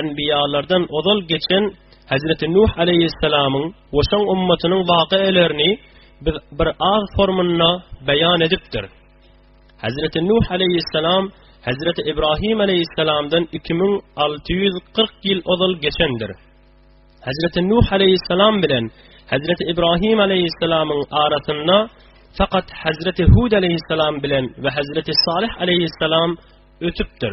Enbiýalardan ozal geçen Hezreti Nuh aleýhissalamyň we şoň ummatynyň wakyalaryny biz bir az formunda beýan edipdir. Hezreti Nuh aleýhissalam Hezreti Ibrahim aleýhissalamdan 2640 ýyl ozal geçendir. Hezreti Nuh aleýhissalam bilen Hezreti Ibrahim aleýhissalamyň arasynda fakat Hezreti Hud aleýhissalam bilen we Hezreti Salih aleýhissalam ötüpdir.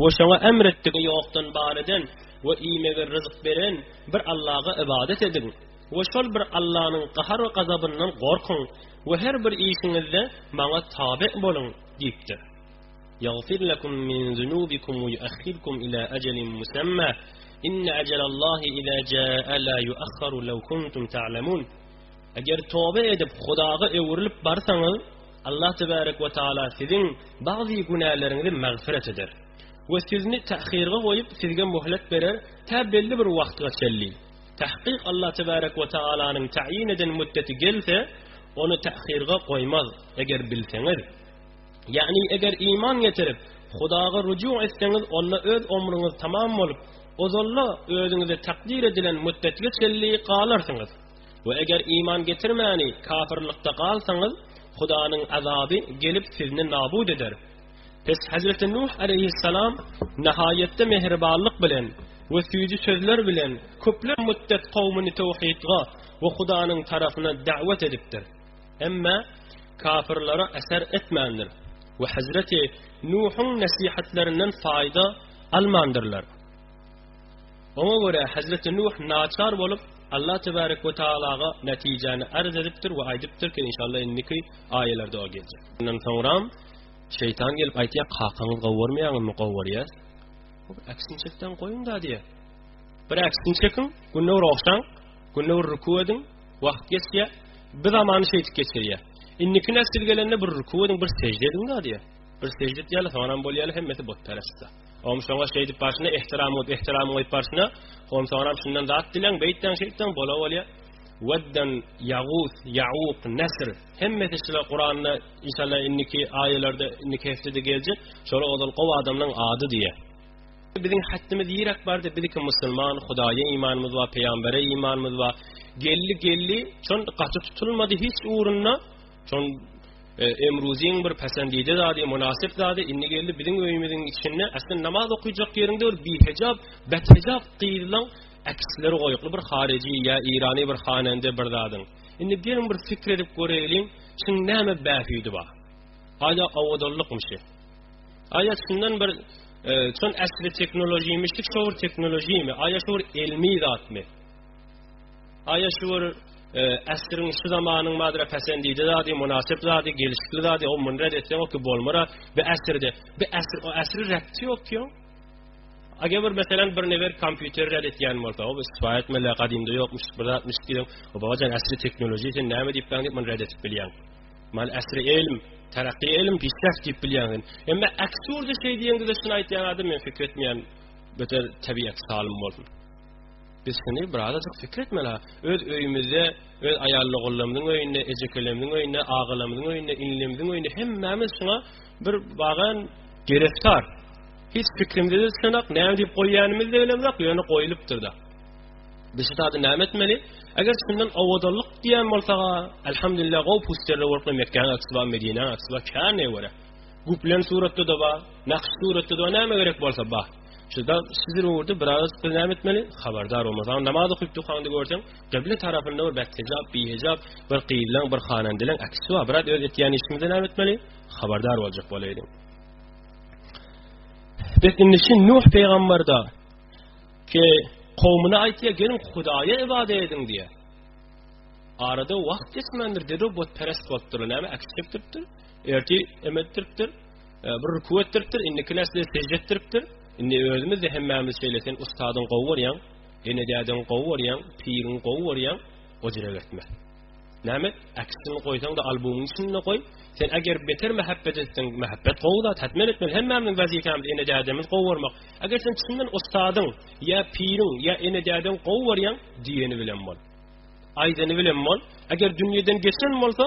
We şoňa emr etdigi ýokdan bar eden we iýmege ryzyk beren bir Allaga ybadat ediň we şol bir Allanyň gahar we gazabyndan gorkuň we her bir işiňizde Maňa tabe boluň diýipdir. Ýagfir lekum min zunubikum we ýuahhirkum ila ajalin musamma, inne ajalallahi iza jaa la ýuahharu lew kuntum ta'lemun. Eger tobe edip Hudaga öwrülip barsaňyz, Allah tebarek we taala siziň bagzy günäleriňizi magfyrat eder. We sizni tahhyrga goýup sizge möhlet berer tä belli bir wagtga çelli. Tahkyk Allah tebarek we taalanyň taýyn eden müddeti gelse ony tahhyrga goýmaz eger bilseňiz. Ýagny eger iman getirip Hudaga rujuk etseňiz onda öz omruňyz tamam bolup ozalda özüňize takdyr edilen müddetge çelli galarsyňyz. We eger iman getirmäni kafyrlykda galsaňyz, Hudanyň azaby gelip sizni nabut eder. Pes Hezreti Nuh aleýhissalam nahaýatda mähribanlyk bilen we süýji sözler bilen köpler müddet kowmuny towhidga we Hudanyň tarapyna dawet edipdir. Emma kafyrlara äser etmändir we Hezreti Nuhuň nesihatlerinden faýda almandyrlar. Oňa görä, hezreti Nuh naçar bolup, Allah tebarek we tagalaga netijäni arz edipdir we aýdypdyr ki, inşallah indiki aýalarda o geljek. Ondan soňram şeýtan gelip aýtýar, kakaňyz gowarmaýaňyzmy, gowarýas. Bir aksini çekden goýuň da diýär. Bir aksini çekiň, günde bir ogşaň, günde bir ruku ediň, wagt geçýä, bir zamany şeýtip geçirýär. Indiki nesil gelende bir ruku ediň, bir sejde ediň da diýär. Bir sejde etýärler, soňram bolýarlar, hemmesi butperestler. Oňa şoňa şeýdip barşyna ehtiram goýup ehtiram goýup barşyna onsoňam şundan zat dileň beýtseň şeýtseň bola bolýa wedden yagus yauk nesr hemmesi şular kuranda inşallah indiki aýalarda indiki heftede geljek şolar ozal gowy adamlaryň ady diýe biziň hattymyz ýirak bardy biziki musulman hudaýa imanymyz bar peýgambere imanymyz bar gelli gelli şon gaty tutulmady hiç ugrunda Şoň Emruziň bir päsendide zady, mynasyp zady indi geldi biziň öýümiziň içinde. Aslynda namaz okuyjak ýeriň döl, bir hejap, bet hejap gyzlaň äkisleri goýukly bir haryjy ýa Irany bir hanende bir zadyň. Indi geliň bir fikir edip göreýliň, şuň näme bähüdi bar? Aýa awadalykmyşy? Aýa şundan bir e, şun äsli teknologiýmişlik, şowur teknologiými? Aýa şowur elmi zatmy? Aýa şükür, äsriň, şu zamanyň madyra päsendije zady, mynasyp zady, gelşikli zady, o muny red etseň oky bolmara, bi äsirde, bi äsir, o äsri räpti ýok ki o. Ager bir meselen bir newer kompýuter red etýän bolsa, o isfa etmeli, gadymda ýokmuş, bir zatmyş diýen, o babajan äsri tehnologiýa sen näme diýip baň diýip muny red edip bilýän. Mal äsri elm, terakki elm pisläp diýip bilýän. Emma äksurde şeý diýen gideşini aýtýan adam men fikir etmeýän, beter tebiýet salym bolsun. Biz şuny birazajyk pikir etmeli-ha. Öz öýümizde, öz aýalogullaymyzyň öýünde, ejekeleýmiziň öýünde, agalamyzyň öýünde, inilemziň öýünde hemmämiz şuňa bir bagan gereftar. Hiç pikrimizde düşüneňok, näme diýip goýýanymyzy-da bilemzok, ýöne goýulypdyr-da. Biz şu zady näme etmeli? Eger şundan owadanlyk diýen bolsak-a, alhamdulillah, gowy pusterler bolup goýan Mekgäniň aksy bar, Medinäniň aksy bar, känä görä. Guplen suratda-da bar, nakş suratda-da bar, näme gerek bolsa bar. Şunda sizi öwürdi biraz bir näme etmeli? Habardar olmasaň namaz okyp dukaňda görseň, gyble tarapynda bir bethejap, bihejap, bir gyzlaň, bir hanandeleň äkisi bar. Biraz öz etýän işimize näme etmeli? Habardar boljak bolaýdyň. Biz indi şu Nuh peýgamberda ki kowmuna aýtýa gelin Hudaýa ibadet ediň diýýär. Arada wagt geçmändir, dedi bu perest bolupdyr, näme äkisi çekdiripdir? Erti emetdiripdir. Bir ruku etdiripdir, indiki nesle sejde etdiripdir. Indi özümiz-de hemmämiz şeýle sen ustadyň gowy görýäň, ene-dädäň gowy görýäň, piriň gowy görýäň, o jire gitme. Näme? Äkisini goýsaň-da albomyň içinde goý. Sen eger beter mähebbet etseň, mähebbet gowy zat, hetmen etmeli. Hemmämiziň wezipemiz ene-dädämizi gowy görmek. Eger sen çyndan ustadyň, ýa piriň, ýa ene-dädäň gowy görýäň, diýeni bilen bol. Aýdany bilen bol. Eger dünýeden geçen bolsa,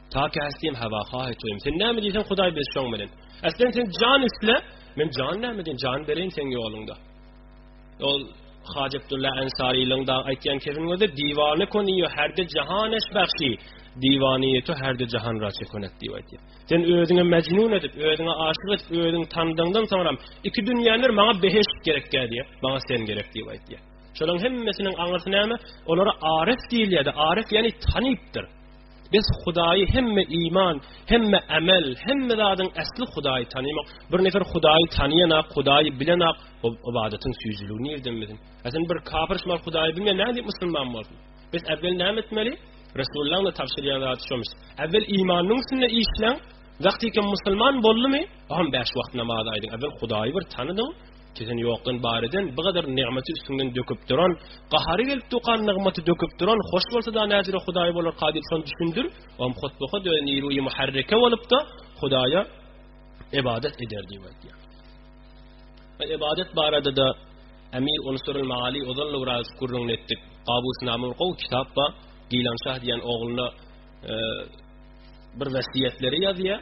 Taky äsdiyem hava hahy toyum. Sen näme diýsen Hudaý bilsin şoň menen. Äslen sen jan isle. Men jan näme diýen? Jan bereýin sen ýoluňda. Ol Haj Abdullah Ansarylyň da aýtýan kesin gözi diwane koniyo herde jahan esbahşi. Diwaniyeti herde jahan raçe konet diýip aýtýar. Sen özüňe mecnun edip, özüňe aşyk edip, özüň tandyňdan soňra iki dünýäler maňa beheşt gerek diýip, maňa sen gerek diýip aýtýar. Şolaryň hemmesiniň aňyrsy näme? Olara arif diýilýär. Arif ýani tanipdir. Biz Hudaýy hemme iman, hemme amel, hemme zadyň äsli Hudaýy tanymak. Bir nefer Hudaýy tanyýanak, Hudaýy bilenak, ol ybadatyň süýjüligi nirden bilsin? Äsen bir kapyr şumal Hudaýy bilmeýän nädip musulman bolsun? Biz äwwel näme etmeli? Resullaň da tabşyrýan zady şomuş. Äwwel imanynyň üstünde işläň. Wagtykem musulman boldumy? Ogam bäş wagt namaz aýdyň. Äwwel Hudaýy bir tanydyň. Sesiň ýokdan bar eden, bu gadar nygmaty üstüňden döküp duran, gahary gelip dokan nygmaty döküp duran, hoş bolsa-da näjire Hudaý bolarka diýip şony düşündir, oňam hotboka dönen nirui muharreke bolup-da Hudaýa ybadat eder diýip aýdýar. Ve ibadet barada da Emir Unsurul Maali ozal Lurayus kurrun ettik. Qabus namur qov kitap ba Gilan Şah diyen oğluna e, bir vasiyetleri yazıya.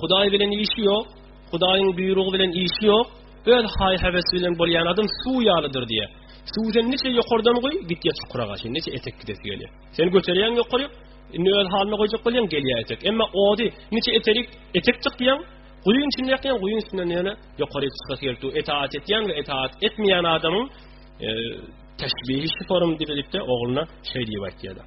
Hudaý bilen işi ýok, Hudaýyň buýrugy bilen işi ýok, öz haý-hewesi bilen bolýan adam suw ýalydyr diýýär. Suw sen niçe ýokardan goý, gitýä çukura gaşy, niçe etek gidesi gelýär. Sen göterýäň ýokaryk, indi öz halyna goýjak bolýaň, gelýär etek. Emma ody niçe eterik, etek çyk diýýäň, guýyň içinde ýakýaň, guýyň üstünden ýöne ýokaryk çykasy gelip dur. Etaat etýän we etaat etmeýän adamyň e, teşbihi şu forum diýilipde ogluna şeý diýip aýtýarlar.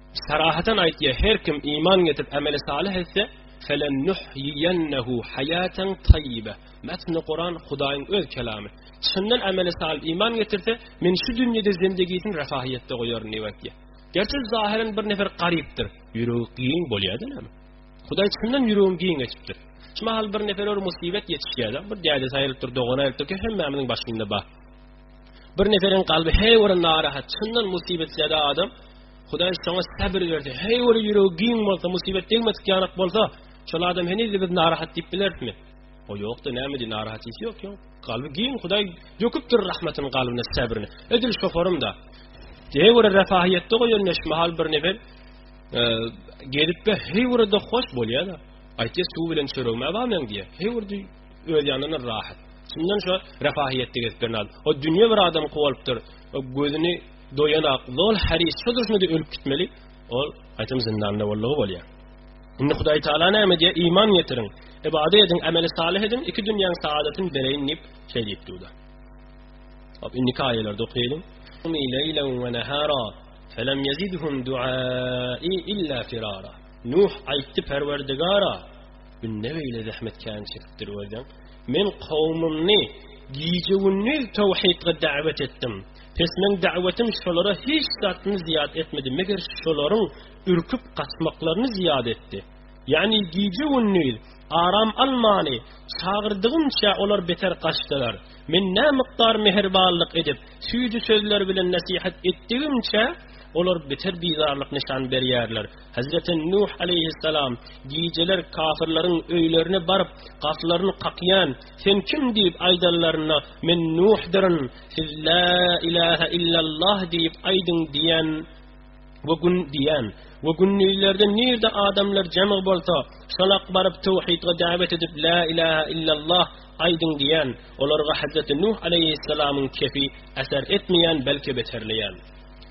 Sarahaten aýtýar, her kim iman getirip ameli salyh etse, Felennuhyiýennehu haýatan taýýyba. Metni Kuran Hudaýyň öz kelamy. Çyndan ameli salyh iman getirse, men şu dünýede zendegisini refahyýetde goýaryn diýip aýtýar. Gerçi zahiren bir nefer garypdyr, ýüregi giň bolýar-da näme? Hudaý çyndan ýüregini giň etipdir. Şu mahal bir neferler musibet ýetişýär-de, bir dädesi aýrylypdyr, dogany aýrylypdyr, hemmämiziň başynda bar. Bir neferiň kalby her bir narahat, çyndan musibetlede adam, Hudaý şoňa sabr berdi. Her bir ýüregi giň bolsa, musibet degmedik ýanak bolsa, şol adam heniz biz narahat diýip bilermi? O ýokda näme diýip narahat hiç ýok ýok. Kalby giň Hudaý döküpdir rahmatyny kalbyna sabryny. Edil şu forumda. Her bir refahiýetde goýan neşmahal bir nefer e, gelip de her bir de hoş bolýar. Aýtýar suw bilen çöregme bamyň diýär. Her bir öz ýanyna rahat. Şundan şu refahiýetde gezip bilen adam. O dünýe bir adam kowalypdyr. O gözüni doýan ak zol haris şu durşuna da ölüp gitmeli. O aýtam zindanda bollugy bolýar. Indi Hudaý Taala näme diýýär? Iman getiriň. Ibade ediň, ameli salih ediň, iki dünýäň saadatyny bereýin diýip şeý diýip durdy. Hop, indi kaýalarda okaýalyň. Umi leýlen we nahara felem yezidhum du'ai illa firara. Nuh aýtdy Perwerdigara, Günde beýle zähmetkäni çekip durberseň, men kowumyny gije-gündiz towhidga dawet etdim. Pes meň dawetym şolara hiç zadyny zyýat etmedi, meger şolaryň ürküp gaçmaklaryny zyýat etdi. Ýagny gije-gündiz aram almany çagyrdygymça olar beter gaçdylar. Men nämykdar mähribanlyk edip, süýji sözler bilen nesihat etdigimçe, olar beter bizarlyk nyşan berýärler. Hezreti Nuh aleýhissalam gijeler kafirleriň öýlerine baryp, gapylaryny kakýan, Sen kim diýip aýdanlarynda, Men Nuhdyryn, siz La ilahe illallah diýip aýdyň diýen we gün diýen we gündizlerde nirde adamlar jemg bolsa, şolak baryp töwhidge dawet edip La ilahe illallah aýdyň diýen, olarga Hezreti Nuh aleýhissalamyň kefi äser etmeýän, belki beterleýän.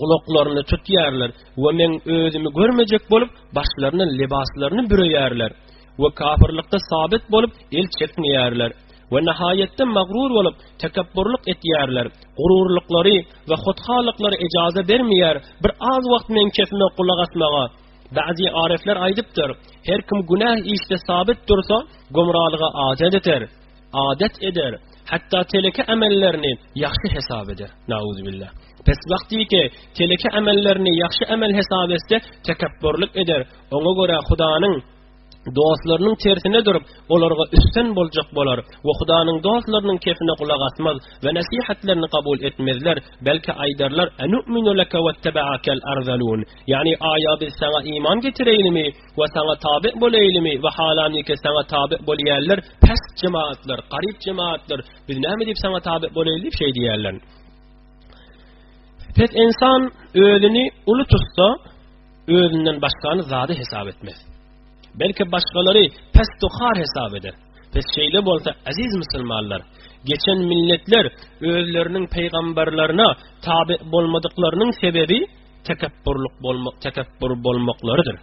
gulaklaryny tutýarlar we men özümi görmejek bolup, başlaryna lebaslaryny büreýärler we kafirlikde sabit bolup, el çekmeýärler we nihaýetde magrur bolup, tekepburlyk etýärler. Gururlyklary we hothalyklary ejaza bermeýär, bir az wagt men kesme gulak asmaga. Ba'zi arefler aýdypdyr, her kim günäh işde sabit dursa, gumralyga aja ýeter. Adat eder, hatda teleke amellerini ýagşy hesap eder. Nauzübillah. Pes wagtyky teleke amellerini ýagşy amel hesap etse, tekepburlyk eder. Oňa görä Hudanyň dostlarynyň tersine durup, olarga üstin boljak bolar we Hudanyň dostlarynyň kefine gulak asmaz we nesihatlerini kabul etmezler, belki aýdarlar, Anu'minu leke wetteba'akal arzalun. Ýagny, aýa biz saňa iman getireýlimi? we saňa tabe boleýlimi we halaniki saňa tabe bolýarlar pest jemaatlar garyp jemaatlar biz näme diýip saňa tabe boleýli diýip şeý diýýärler pes insan özüni uly tutsa özünden başgany zady hesap etmez belki başgalary pes tuhar hesap eder pes şeýle bolsa aziz musulmanlar geçen milletler özleriniň peýgamberlerine tabe bolmadyklarynyň sebebi tekepbur bolmaklarydyr.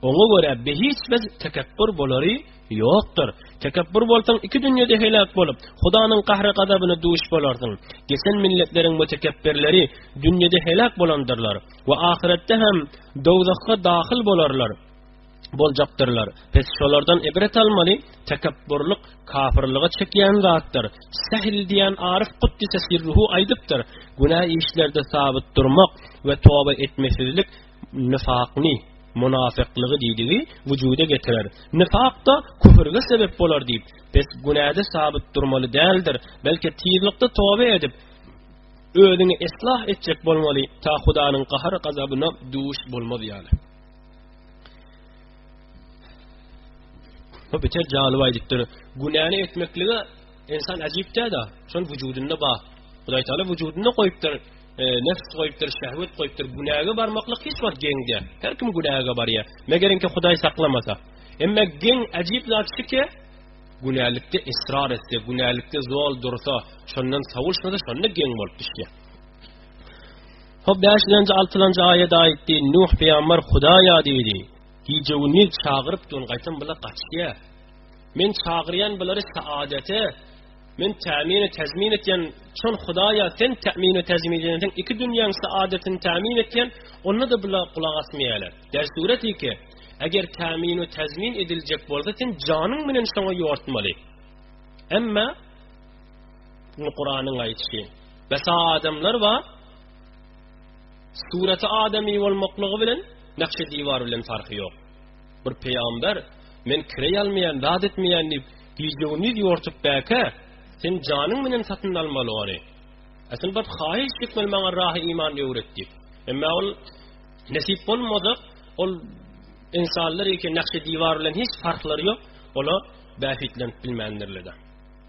Oňa görä behiç bir tekepbur bolary ýokdur. Tekepbur bolsaň iki dünýede heläk bolup, Hudanyň gahry gazabyna duş bolarsyň. Geçen milletleriň bu tekepbirleri dünýede heläk bolandyrlar we ahyretde hem dowzahga dahyl bolarlar. boljakdyrlar. Pes şolardan ibret almaly, tekepburlyk kafirlige çekýän zatdyr. Sähl diýen aryf guddise sirruhu aýdypdyr, günä işlerde sabyt durmak we toba etmesizlik nifakny, munafyklygy diýdigi wujuda getirer. Nifak da küfürge sebep bolar diýip, pes günäde sabyt durmaly däldir, belki tizlikde toba edip, özüňi islah etjek bolmaly, ta Hudanyň gahar-gazabyna duş bolmaz ýaly. Bu biter jalyp aýdypdyr. Günäni etmeklige insan ajypda-da, şol wujudynda bar. Hudaý Taala wujudynda goýupdyr, e, nefs goýupdyr, şehwet goýupdyr. Günäge barmaklyk hiç wagt geň däl. Her kim günäge barýar. Megerinki Hudaý saklamasa. Emma geň ajyp zat şike, günälikde israr etse, günälikde zol dursa, şondan sawulsa, şonda geň bolup düşýär. Hop bäşlenji altylanjy aýat aýtdy Nuh pyýambar Hudaýa diýdi Gije gündiz çagyryp durun gaýtam bular gaçýa Men çagyrýan bulary saadete Men tämini täzmin etýän çon Hudaýa sen tämini täzmin edýän sen iki dünýäň saadetini tämin etýän onda da bular gulak asmaýarlar Der surat 2 Eger tämini täzmin ediljek bolsa sen janyň bilen şoňa ýortmaly Emma Kuranyň aýtýşy Besa adamlar bar. Suraty adamy bolmaklygy bilen nakşe diwar bilen farky ýok. Bir peýgamber men kireý almaýan, zat etmeýän diýip, gije gündiz ýortup bäke, sen janyň bilen satyn almaly ony. Asyl bir haýyş etmeli maňa rahy iman öwret diýip. Emma ol nesip bolmadyk, ol insanlar ýeke nakşe diwar bilen hiç farklary ýok. Ola bähitlenip bilmändirler.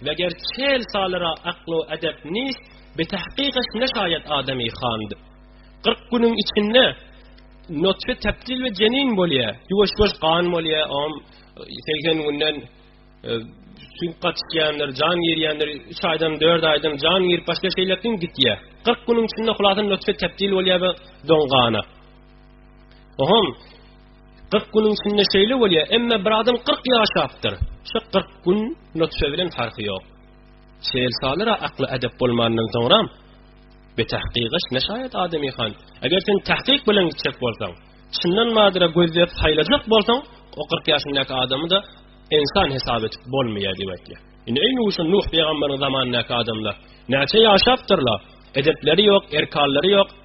Meger çel salyra aklo edep nist, Betahkykaş ne şaýat adamy hand. Kyrk günüň içinde notfe tepdil we jenin bolýa, ýuwaş ýuwaş gan bolýa, om segsen günden süňk gatyşýandyr, jan girýändir, üç aýdan, dört aýdan jan girip başga şeýlekin gitýä. Kyrk günüň içinde hulasan notfe tepdil bolýa we don gana. Ohm, Kyrk günüň içinde şeýle bolýa, emme bir adam kyrk ýaşapdyr. Şu kyrk gün nutfe bilen farky ýok. Şeýl salyra akly edep bolmandan soňra be tahkiga ne şaýat adamy han. Eger sen tahkik bilen gitjek bolsaň, çyndan madra gözläp saýlajak bolsaň, o kyrk ýaşyndaky adamy da insan hesap edip bolmaýar diýip aýtýar. Indi eý Nuh, Nuh peygamberin zamanyndaky adamlar näçe ýaşapdyrlar? Edepleri ýok, erkallary ýok.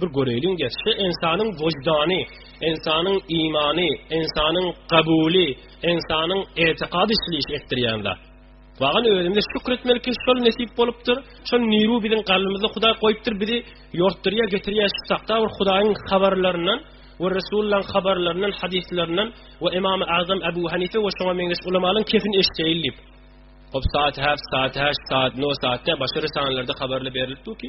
Bir göreýliň-de, şu ynsanyň wyždany, ynsanyň imany, ynsanyň gabuly, ynsanyň etikady şul işi etdirýän zat. Wagyn özümize şükür etmeli ki, şol nesip bolupdyr, şol niru biziň kalbymyzda Hudaý goýupdyr, bizi ýortdurýar, getirýär şu sakda bir Hudaýyň habarlaryndan we Resullaň habarlaryndan, hadyslaryndan we Ymamy Azam Abu Hanife we şoňa meňzeş ulamalaň kepini eşdeýin diýip. Hop saat hap, saat haş, saat no, saat de, başga risanlarda habarly berilipdir ki,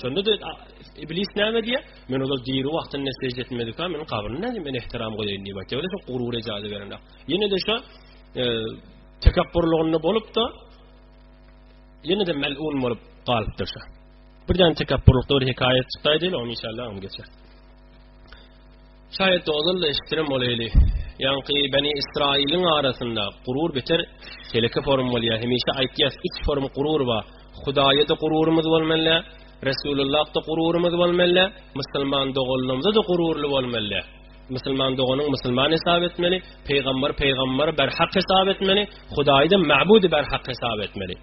Şonda da iblis näme diýýär? Men ozal diri wagtynda sežde etmedik, men kabryny näme men ihtiram goýaýyn diýip aýtýar. Ýöne gurur ejazy berenok. Ýene de şu e, tekabburlygynda bolup da ýene de melun bolup galypdyr şu. Birden tekabburlykda bir hekaýat çykdaýdy, onu inşallah onu geçer. Şaýat ozal-da eşitdirem bolaýly, ýaňky Beni Ysraýylyň arasynda gurur beter teleke forum bolýar. Hemişe aýtýas, üç forum gurur bar. Hudaýa-da gururymyz bolmaly, Resulullah-da gururymyz bolmaly, musulman doganlarymyza-da gururly bolmaly. Musulman doganyň musulman hesap etmeli, pygambar pygambar berhak hesap etmeli, Hudaýy-da mabud berhak hesap etmeli.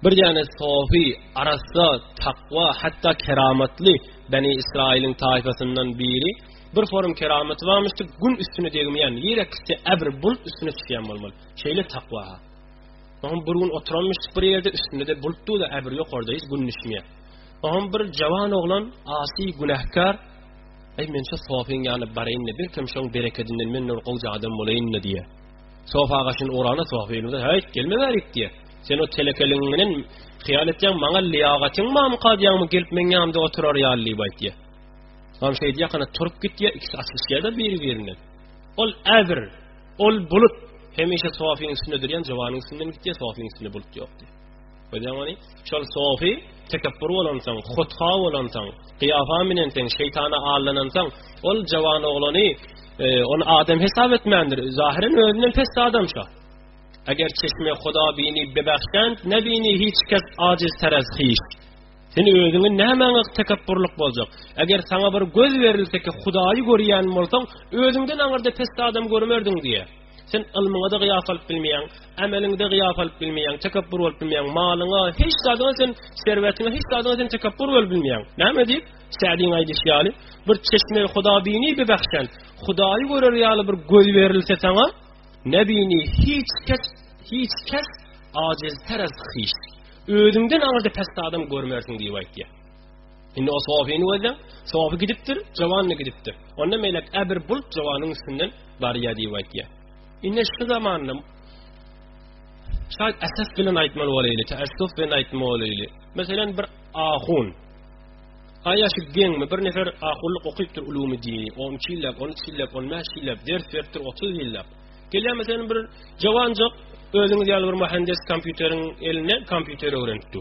Bir ýane sofi, arassa, takwa, hatda keramatly Beni Israiliň taýfasyndan biri bir forum keramati barmyşdy, gün üstüne degmeýän, ýere kisse äbr bul üstüne çykýan bolmaly. Şeýle takwa. Oňa bir gün oturanmyş bir ýerde üstünde de bult duýda äbr ýok orada hiç gün düşmeýär. Oňa bir jawan oglan asy günäkar Ey men şu sofiň ýany baraýyn-da, belkem şoň berekedinden men nur gowja adam bolaýyn-da diýýär. Sof agaçyny urana Sof elimize häýt gelmewärik diýýär. Sen o telekeliň menen hyýal etýäň, maňa liýagatyň barmy kazýaňmy gelip meň ýanymda oturar ýaly diýip aýtýar. Soň şeýdi ýakana turup gitýär, ikisi açyşýar-da biri-birinden. Ol äbir, ol bulut hemişe Sofyň üstünde durýan jowanyň üstünden gitýär, Sofyň üstünde bulut ýokdy. Öýdemani, şol sofi, tekepbur bolansoň, hotha bolansoň, gyýafa minensoň, şeýtana aldanansoň, ol jawan oglany, e, ony adam hesap etmändir. Zahiren özünden pes adam şo. Eger çeşme Huda bini bebahşan, nebini hiç kes aciz teraz hiç. Sen özüňi nämäňe tekepburlyk boljak? Eger saňa bir göz berilse ki, Hudaýy görýän bolsaň, özüňden aňyrda pes adam görmerdiň diýe. Sen ylmyňa-da gyýas alyp bilmeýäň, ämeliňe-de gyýas alyp bilmeýäň, tekepbur bolup bilmeýäň, malyňa, hiç zadyňa sen, serwetiňe, hiç zadyňa sen tekepbur bolup bilmeýäň. Näme diýip? Sädiň aýdyşy ýaly, bir çeşme hudabini bi bahşan, Hudaýy görer ýaly bir göz berilse saňa, nebini hiç kes, hiç kes ajiz, terez, hiç. Özüňden aňyrda pes adam görmersiň diýip aýtýar. Indi o Sofyny gözleň. Sofy gidipdir, jowanda gidipdir. Onda melek ä bir bult jowanyň üstünden barýa diýip aýtýar. Indi şu zamanda şaýt esas bilen aýtmaly bolaýly, täessüf bilen aýtmaly bolaýly. Meselem bir ahun. Aýaşy geňmi bir nefer ahunlyk okypdyr ulumy diýi. 12 ýyllap, 13 ýyllap, 15 ýyllap ders beripdir 30 ýyllap. Gelýär meselem bir jowanjyk özüňiz ýaly bir mühendis kompýuteriň eline kompýuter öwrenipdi.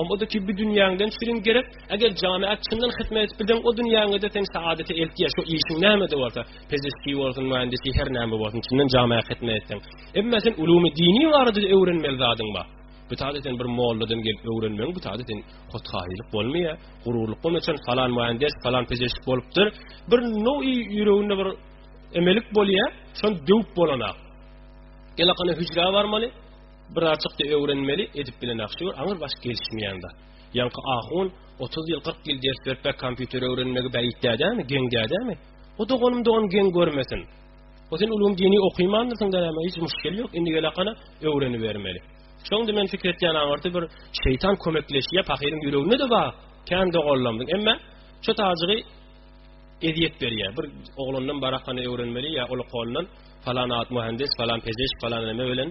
Omada ki bi dünýäňden şirin gerek, eger jana çyndan hyzmat edip bilseň, o dünýäňde sen saadete eltýä, şu işiň näme-de bolsa, pezeşki bolsun, mühendisi, her näme bolsun, çyndan jana hyzmat etseň. Emma sen ulumy dini barada öwrenmeli zadyň bar. Bu taýda sen bir molladan gelip öwrenmeň, bu taýda sen hothaýylyk bolmaýa, gururlyk bolma üçin falan mühendis, falan pezeşki bolupdyr. Bir nowi ýüreginde bir emelik bolýa, şon döwüp bolanak. Elakana hüjrä barmaly. Birazjykda öwrenmeli edip bilen aktýor aňyr baş gelişmeýän zat. Ýaňky ahun otuz ýyl kyrk ýyl ders beripä kompýuter öwrenmegi bäit dädämi, geň dädämi? O doganym dogan geň görmesin. O sen ulgam dini okyýmandyrsyň dädämi hiç muşkil ýok indi gel akana öwrenibermeli. Şonda men fikir etýän aňyrty bir şeýtan kömekleşýä pahyryň ýüreginde de bar kän doganlarymyň emme şo tazygy ezýet berýä bir oglandan barakany öwrenmeli ýa ol kolundan falan at muhandis falan pezeşk falan neme bilen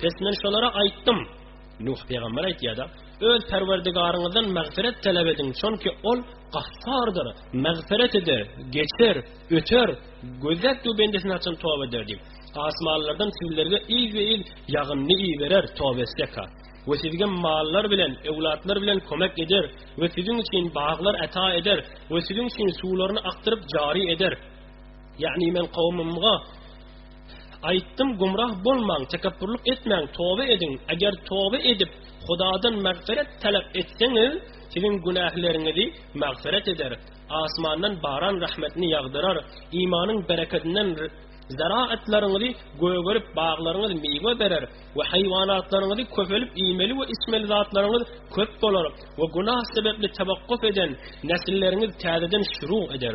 Pes men şolara aýtdym, Nuh pygamber aýtýar-da, Öz Perwerdigaryňyzdan magfyrat talap ediň, çünki Ol Gaffardyr, magfyrat eder, geçer, öter, gözläp dur bendesini haçan toba eder diýip. Asmanlardan sizlerge yzbe-yz ýagyndy iberer, toba etsek-ha. We sizge mallar bilen, öwlatlar bilen kömek eder we siziň üçin baglar ata eder we siziň üçin suwlaryny akdyryp jary eder. Ýagny men kowumymga, Aýtdym, gümrah bolmaň, tekepburlyk etmäň, toba ediň, eger toba edip, Hudadan magfyret talap etseňiz, siziň günähleriňizi magfyret eder, asmandan baran rahmetini ýagdyrar, imanyň berekedinden zaraatlaryňyzy gögerip, baglaryňyz miwe berer we haýwanatlaryňyzy köpelip, iýmeli we içmeli zatlaryňyz köp bolar we günah sebäpli tewakkuf eden nesilleriňiz täzeden şirug eder.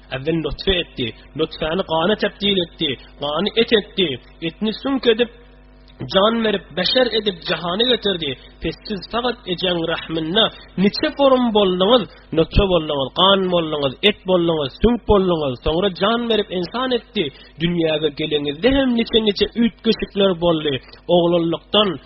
Äwel nutfe etdi, nutfäni gana tebdil etdi, gany et etdi, etni süňk edip, jan berip, beşer edip jahana getirdi. Pes siz fakat ejeň rahmynda niçe forum bolduňyz, nutfe bolduňyz, gan bolduňyz, et bolduňyz, süňk bolduňyz, soňra jan berip insan etdi. Dünýäge geleňizde hem niçe-niçe üýtgeşikler boldy. Oglanlykdan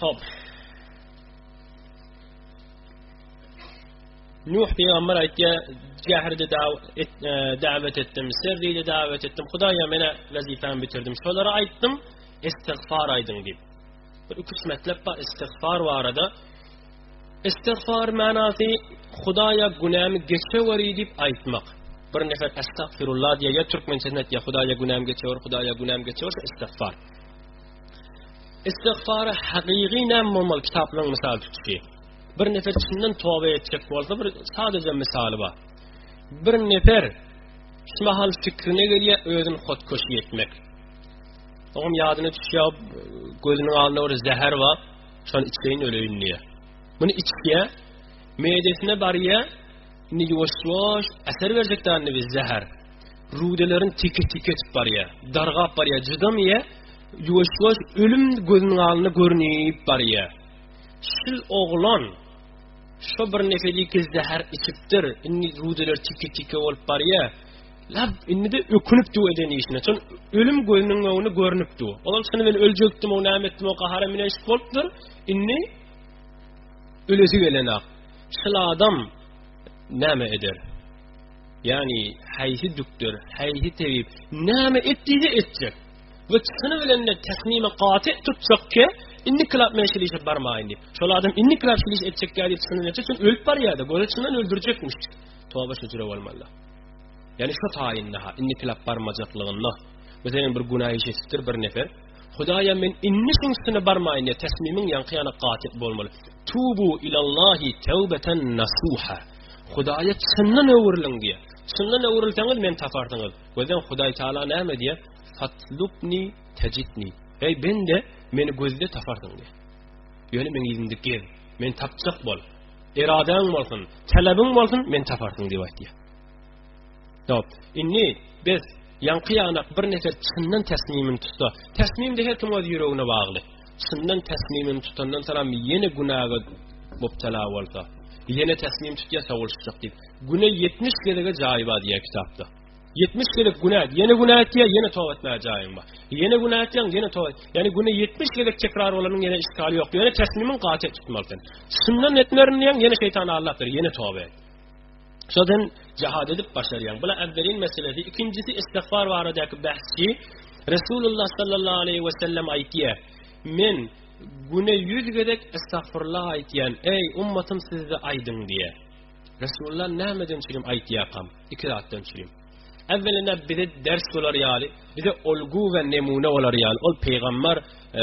Hop. Nuh peygamber aýtýa, jährde e, dawet etdim, serride dawet etdim. Hudaýa mena wezipemi bitirdim. Şolara aýtdym, istigfar aýdyň diýip. Bir üç metlep bar istigfar barada. Istigfar manasy Hudaýa günämi geçeweri diýip aýtmak. Bir nefer estagfirullah diýýä, türkmençesinde aýtýa, Hudaýa günämi geçewer, Hudaýa günämi geçewer, istigfar. Istigfary hakyky näme bolmaly kitaplaryň mysal tutuşy. Bir nefer çyndan toba etjek bolsa bir sadece misaly bar. Bir nefer şu mahal fikrine gelýär özüni hotkoşy etmek. Oňam ýadyna düşýär gözüniň alnynda bir zäher bar. Şony içleýin öleýin diýýär. Muny içýär. Meýdesine barýar. Indi ýuwaş-ýuwaş äser berjek dändi biz zäher. rudelerini teke-teke etip barýar, dargap barýar, jydamaýar, ýuwaş-ýuwaş ölüm gözüniň alnynda görünip barýar. Şul oglan şu bir nefeli ki zäher içipdir, indi rudeler teke-teke bolup barýar. Lab indi de ökünip duw eden işine. Çün ölüm gözüniň öňünde görünip duw. Olam şunu men öljekdim, o näme etdim, o gahara mine şik bolupdyr. Indi ölesi gelen ak. Şul adam näme eder? Ýagny haýsy düktor, haýsy tebip näme et diýse etjek. Bu çykyny bilen de täsmimi gaty tutjak ki, indi klap men şeýle işe barmaýyn diýip. Şol adam indi klap şeýle iş etjek ýa diýip çykyny etjek, çünki ölüp barýar-da, göze çynan öldürjekmiş. Toba şu jüre bolmazlar. Ýagny şu taýynda ha, indi klap barmajaklygynda. Bu seniň bir günä iş etipdir bir nefer. Hudaýa men indi şuň üstüne barmaýyn diýip, täsmimiň ýaňky ýana gaty bolmaly. Tubu ilallahi tawbatan nasuha. Hudaýa çyndan öwrüliň diýýär. Çyndan öwrülseňiz meni taparsyňyz. Gözleň Hudaý Taala näme diýýär? Fatlubni tajidni. Eý bende, meni gözle taparsyň diýýär. Ýöne meni ýüzümde gez, meni tapjak bol. Eradaň bolsun, talabyň bolsun, meni taparsyň diýip aýtýar. Dop. Inni, bes, ýaňky ýanak bir nefer çyndan täsmimini tutsa, täsmimde her kim öz ýüregine bagly. Çyndan täsmimini tutandan soňam ýene günäge mubtala bolsa, ýene täsmim tutýa sowulşjak diýip, güne ýetmiş gezege jaý bar diýýä kitapda. Ýetmiş gezek günä, ýene günä etýä, ýene toba etmäge jaýyň bar. Ýene günä etýäň, ýene toba. Ýani güne ýetmiş gezek tekrar bolanyň ýene işgali ýok. Ýöne täsmimiň gaty tutmaly sen. Çyndan etmerin diýäň, ýene şeýtan aldapdyr, ýene toba et. Şodan jihad edip başarýan. Bula awwelin meselesi, ikinjisi istigfar baradaky bahsy. Resulullah sallallahu aleyhi ve sellem aýtýar: "Men güne 100 gezek istigfirullah aýtýan. Eý ummatym sizde aýdyň" diýýär. Resulullah nämeden üçin aýtýarkam? Iki zatdan üçin. Awwelina bize ders bolar ýaly, bize ulgu we nemune bolar ýaly. Ol peýgamber e,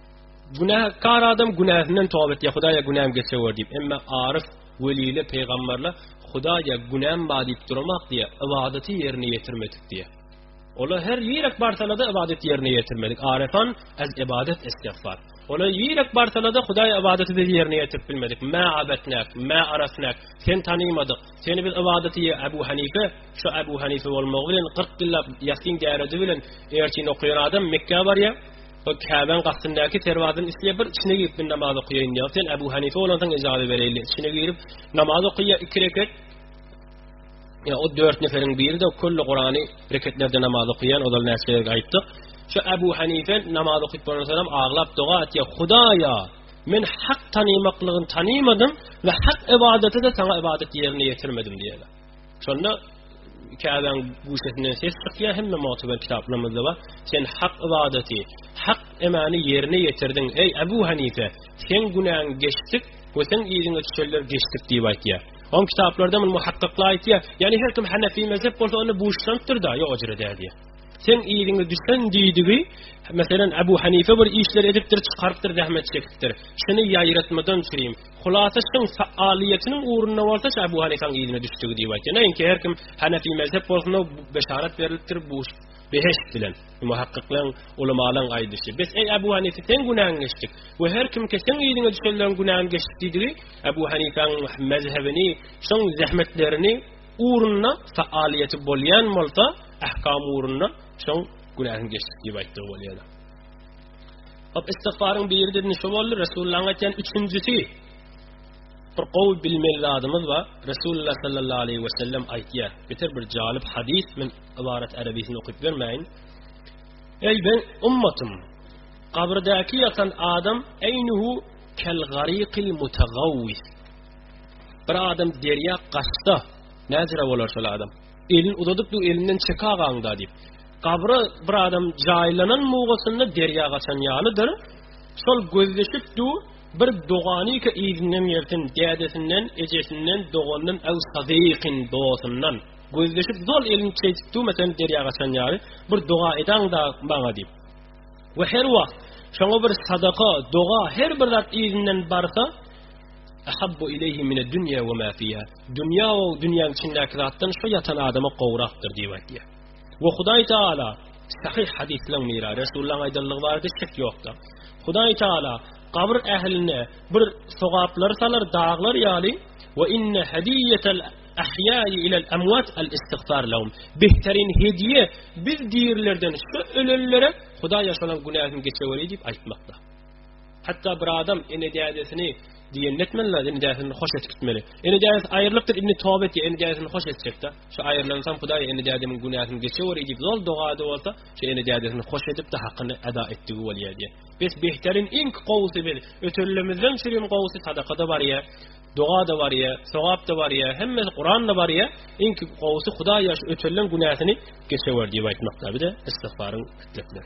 Günäkar adam günäsinden tobat etýär, Hudaýa günäm geçewer diýip. Emma aryf, weliler, pygamberler Hudaýa günäm bar diýip durmak diýär, ybadaty ýerine ýetirmedik diýär. Ola her ýerek barsalada ybadat ýerine ýetirmedik. Arefan az ibadat istigfar. Ola ýerek barsalada Hudaý ibadaty biz ýerine ýetirip bilmedik. Ma abatnak, ma arasnak. Sen tanymadyk. Sen biz ibadaty Abu Hanife, şu Abu Hanife bolmagy bilen 40 ýyllap ýasin däredi bilen ertin okaýan adam Mekka barýar. Ol Käbäň gastyndaky serwadyny isle bir içine girip men namaz okaýaýyn ýa sen Abu Hanife bolansoň ijazat bereýli içine girip namaz oky ýa iki reket ýa o dört neferiň biri de kölle Kurany reketlerde namaz okaýan ozal näçe ýerde aýtdyk şu Abu Hanife namaz okyp bolansoňam aglap doga etýä Hudaýa men hak tanymaklygyny tanymadym we hak ibadeti de saňa ibadet ýerine ýetirmedim diýýä. Şonda Käbäň guşesinden ses çykýar, hemme mutuber kitaplarymyzda bar. Sen hak ibadeti, hak emani ýerine ýetirdiň. Eý Abu Hanife, sen günäň geçdik we sen ýeriňe düşenler geçdik diýip aýtýar. On kitaplarda muny muhakkakla aýtýar. Ýani her kim Hanefi mezhep bolsa onda buşlanpdyr da, ýok ojra däl diýär. Sen ýeriňe düşen diýdigi, meselem Abu Hanife bir işler edipdir, çykarypdyr, zähmet çekipdir. Şuny ýaýratmadan çykyň. Hulasa şyň faallyýetiniň ugrunda bolsa şa Ebu Hanifäň yzyna düşdügi diýip aýtýar. Näinki her kim Hanefi mezhep bolsunda beşarat berilipdir bu behişt bilen. Muhakkyklaň, ulamalaň aýdyşy. Bes eý Ebu Hanife seň günäň geçdik we her kim ki seň yzyňa düşenleriň günäň geçdik diýdigi Ebu Hanifäň mezhebini şyň zähmetlerini ugrunda faallyýeti bolýan bolsa ahkam ugrunda şyň günäň geçdik diýip aýtdygy bolýar. Hop istigfaryň biri dedin şu boldy. Resulullahyň aýtýan üçünjisi. Bir gowy bilmeli zadymyz bar. Resulullah sallallahu aleyhi ve sellem aýtýar. Beter bir jalyp hadis men ibarat arabisini okup bermäýin. Ey ben ummatym. Gabirdäki ýatan adam eýnuhu kel garikil mutagawwis. Bir adam derýa gaçsa, näzire bolar şol adam? Elini uzadyp dur, elinden çek agaňda diýip. Gabra bir adam jaýlanan mugasynda derýa gaçan ýalydyr. Şol gözleşip dur, bir dogany ki izinden gelsin, dädesinden, ejesinden, doganyndan, äw sadykin dostundan. Gözleşip zol elini çeýtip dur, mesen derýa gaçan ýaly, bir doga edaňda maňa diýip. We her wagt şoňa bir sadaka, doga, her bir zat izinden barsa, ahabbu ileýhi mine dünýe we ma fiýa. Dünýä o dünýäň içindäki zatdan şu ýatan adama gowrakdyr diýip aýdýar. We Hudaý Taala sahyh hadyslaryň biri, Resulullahyň aýdanlygy barada şek ýokdur. Hudaý Taala gabr ähline bir sogaplar salar daglar ýaly we inne hadiýatal ahýaý ilal amwat al istigfar lahum. Behterin hediýe biz dirilerden şu ölenlere Hudaý ýaşalan günäsini geçeweri diýip aýtmakdyr. Hatda bir adam ene dädesini diýende etmeli, ene dädesini hoş edip gitmeli. Ene dädesi aýrylypdyr, indi toba etdi, ene dädesini hoş etjekdi. Şu aýrylansam Hudaý ene dädemiň günäsini geçiwer diýip zol doga edip bolsa, şu ene dädesini hoş edip de hakyny eda etdigi bolýar diýen. Biz behterin iň gowusy biz. Ötürilimizden çürim gowusy sadaka da barýar. Doga da barýar, sogap da barýar, hemme Kuran da barýar. Iň gowusy Hudaý ýaş ötürilen günäsini geçiwer diýip aýtmakda bir de istigfaryň etmekdir.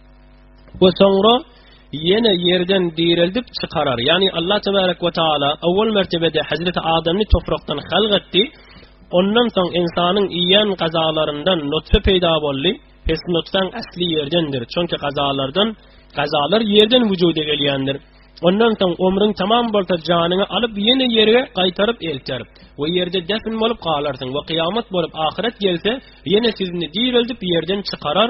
we soňra ýene ýerden direldip çykarar. Ýagny Allah tebarek we taala awwal mertebede Hazreti Adamny toprakdan halk etdi. Ondan soň insanyň iýen gazalaryndan nutfa peýda boldy. Pes nutfaň asly ýerdendir. Çünki gazalardan gazalar ýerden wujuda gelýändir. Ondan soň ömrüň tamam bolsa janyňy alyp ýene ýere gaýtaryp elter we ýerde defn bolup galarsyň we kyýamat bolup ahyret gelse ýene sizni direldip ýerden çykarar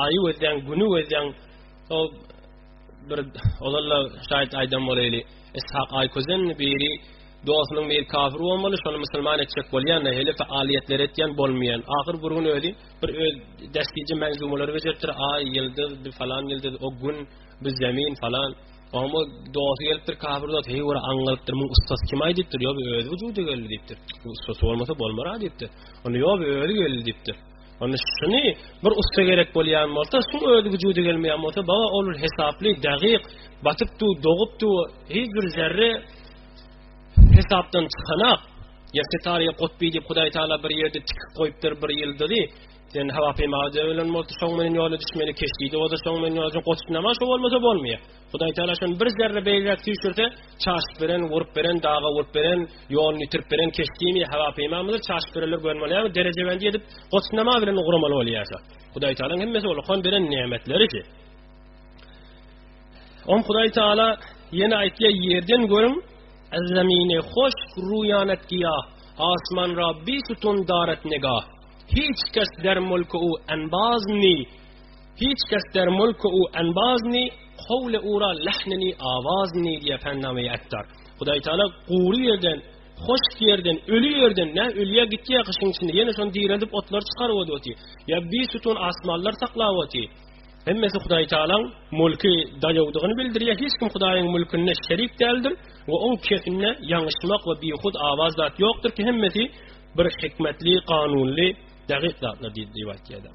Aýy gözleň, güni gözleň. O bir ozalla şaýat aýdan bolaýly. Ishak Aýközen biri dostunyň bir kafir bolmaly, şony musulman etjek bolýan, hele faaliyetler etýän bolmaýan. Ahyr bir gün özi bir öz destiji menzumalary bejeripdir. Aý, ýyldyz, bir falan ýyldyz, o gün, bir zemin falan. Oňa dosy gelipdir, kafir dost, heý ora aňlalypdyr, muň ustasy kim aý diýipdir. Ýa bu özi wujuda geldi diýipdir. Bu ustasy bolmasa bolmara diýipdir. Onda ýa bu özi geldi diýipdir. Onda şuny bir ussa gerek bolýan bolsa, şu özi wujuda gelmeýän bolsa, baga ol bir hesaply, dagyk, batypdy, dogypdy, hiç bir zerre hesapdan çykanak. Ýa Setariýa Gutby diýip Hudaý Taala bir ýerde tikip goýupdyr bir ýyldyzy. Sen hawa peýmada ölen bolsa, şoň meniň ýola düşmeli keşdi, ýa-da şoň meniň ýola goçdunama, şo bolmasa bolmaýar. Hudaý Tagala şony bir zerre beýläk süýşürse, çaşyp beren, gurup beren, daga urup beren, ýoluny ýitirip beren keşdimi, hawa-peýmamydyr, çaşyp berenler gören bolýarmy, derejebendi edip, goçnama bilen ugramaly bolýarsa. Hudaý Tagalaň hemmesi ol okan beren nemetleri ki. Oň Hudaý Tagala ýene aýtýar, ýerden görüň, Zemine hoş ruyanet giya, asman ra bir sütun daret nega. Hiç kes der mulku u enbaz ni, Hiç kes der mulku u enbazni, howle ura lehnini awazni diýýär Pännamaýy Attar. Hudaý Taala gury ýerden, hoşk ýerden, öli ýerden, nä ölýär gitýär gyşyň içinde, ýene şony direldip otlary çykaryp oduti. Ýa bir sütun asmanlar saklap oty. Hemmesi Hudaý Taalaň mulky daýawdygyny bildirýär. Hiç kim Hudaýyň mulkynda şerik däldir we oň kepinde ýaňyşmak we bihud awaz zat ýokdur ki, hemmesi bir hikmetli, kanunly, dagyk zatlar diýip aýtýarlar.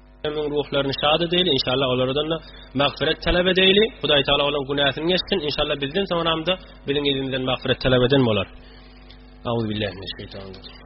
Ömrüň ruhlaryny şad edeýli, inşallah olaradan-da magfyret talap edeýli. Hudaý Taala olaryň günäsini geçsin. Inşallah bizden soňramda biziň yzymyzdan magfyret talap eden bolar. Auzu billahi mineş şeýtanir rejim.